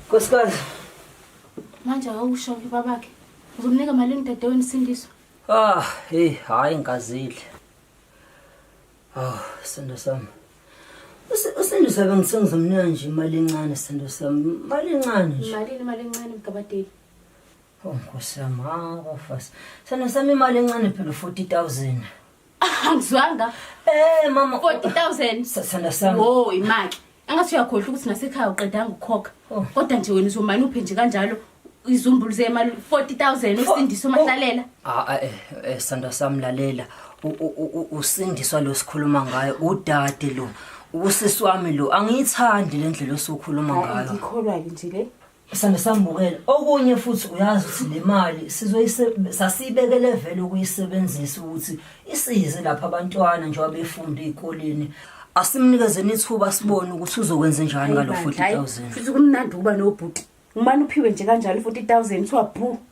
Nkosikazi. Manje awusho ke babakhe. Uzomnika malini dadewenu sindiswa? Ah, hey, hayi ngazidle. Hawu, sendo sami. Usendo sabe ngisengiza mina nje imali encane sendo sami. Imali encane nje. Malini imali encane mgabadeli? Oh Nkosi yami, hawu bafasi. Sendo sami imali encane phela 40000. Angizwanga. Eh mama 40000. Sendo sami. Wo, imali. angathi uyakhohlwa ukuthi nasekhaya uqedanga ukukhokha oh. kodwa nje wena uzomane uphe nje kanjalo izumbulu zemali 40000 usindiswa mahlalela oh. ah, ah eh, eh sanda samlalela usindiswa lo sikhuluma ngayo udade lo usisi wami lo angiyithandi lendlela osukhuluma ngayo ngikholwa ke nje le Sisanda sambukela okunye futhi uyazi ukuthi le mali sizoyise- sasiyibekele vele ukuyisebenzisa ukuthi isize lapha abantwana njengoba befunda ey'koleni asimnikezeni ithuba sibone ukuthi uzokwenze njani ngalo 40000 futhi kumnandi ukuba nobhuti umane uphiwe nje kanjalo u-40 000 kuthiwa bhu